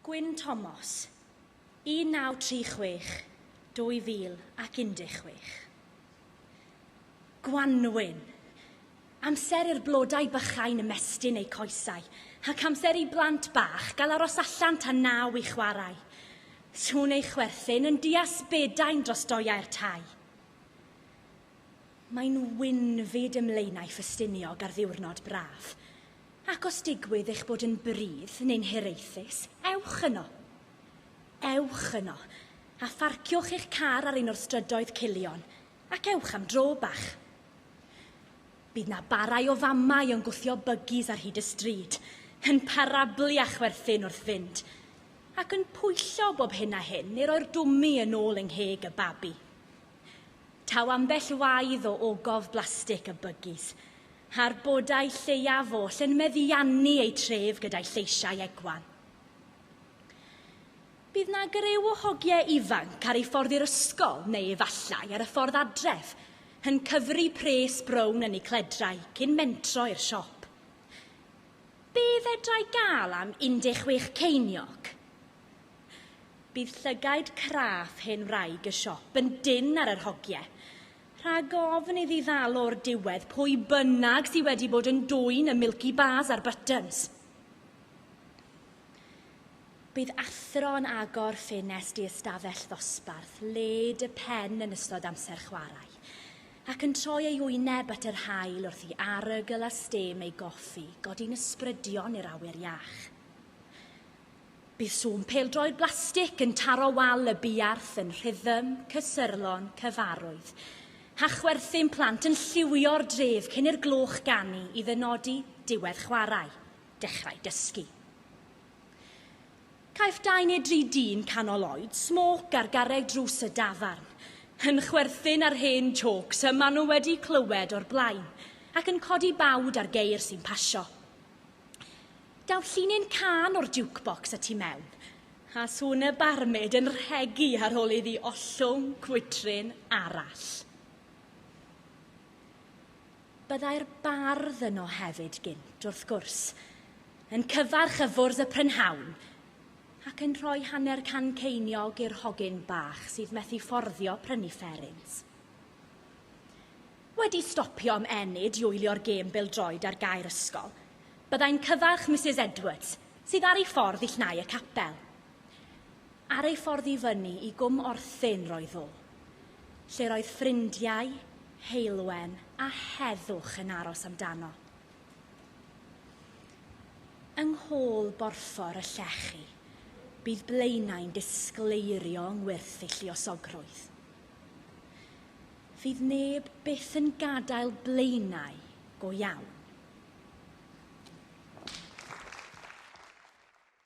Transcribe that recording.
Gwyn Thomas, 1936, 2016. Gwanwyn. Amser i'r blodau bychain ymestyn eu coesau, ac amser i blant bach gael aros allan tan naw i chwarae. Sŵn ei chwerthin yn diasbedau'n dros doiau'r tai. Mae'n win fyd ymlaenau Ffestiniog ar ddiwrnod braf. Ac os digwydd eich bod yn brudd neu'n hiraethus, ewch yno. Ewch yno, a pharciwch eich car ar un o'r strydoedd culion, ac ewch am dro bach. Bydd 'na barau o famau yn gwthio bygis ar hyd y stryd, yn parablu a chwerthin wrth fynd, ac yn pwyllo bob hyn a hyn i roi'r dwmi yn ôl yng ngheg y babi. Taw ambell waidd o ogof blastig a bygis, a'r bodau lleiaf oll yn meddiannu eu tref gyda'i lleisiau egwan. Bydd na greu o hogiau ifanc ar ei ffordd i'r ysgol neu efallai ar y ffordd adref, yn cyfri pres brown yn eu cledrau cyn mentro i'r siop. Be fedrai gael am 16 ceiniog? Bydd llygaid craff hen wraig y siop yn dynn ar yr hogie. Rhag ofn iddi ddal o'r diwedd pwy bynnag sydd wedi bod yn dwyn y Milky Bars a'r Buttons. Bydd athro yn agor ffenest i ystafell ddosbarth led y pen yn ystod amser chwarae, ac yn troi ei wyneb at yr haul wrth i arogl a stêm ei goffi godi'n ysbrydion i'r awyr iach. Bydd sŵn pêl-droed blastig yn taro wal y buarth yn rhythm cysyrlon cyfarwydd. Hachwerthin plant yn lliwio'r dref cyn i'r gloch ganu i ddynodi diwedd chwarae, dechrau dysgu. Caiff dau neu dri dyn canol oed smôc ar garreg drws y dafarn, yn chwerthin ar hen jôcs y maen nhw wedi clywed o'r blaen, ac yn codi bawd ar geir sy'n pasio. Daw llinyn can o'r jukebox y tu mewn, a sŵn y barmyd yn rhegi ar ôl iddi ollwng gwydryn arall. Byddai'r bardd yno hefyd gynt, wrth gwrs, yn cyfarch y fwrdd y prynhawn, ac yn rhoi hanner can ceiniog i'r hogyn bach sydd methu fforddio prynu fferins. Wedi stopio am ennyd i wylio'r gêm bêl-droed ar gae'r ysgol, byddai'n cyfarch Misus Edwards, sydd ar ei ffordd i llnau y capel. Ar ei ffordd i fyny i Gwm Orthyn roedd o, lle roedd ffrindiau, heulwen a heddwch yn aros amdano. Yng nghôl borffor y llechi, bydd Blaenau'n disgleirio yng ngwyrth ei lluosogrwydd. Fydd neb byth yn gadael blaenau go iawn.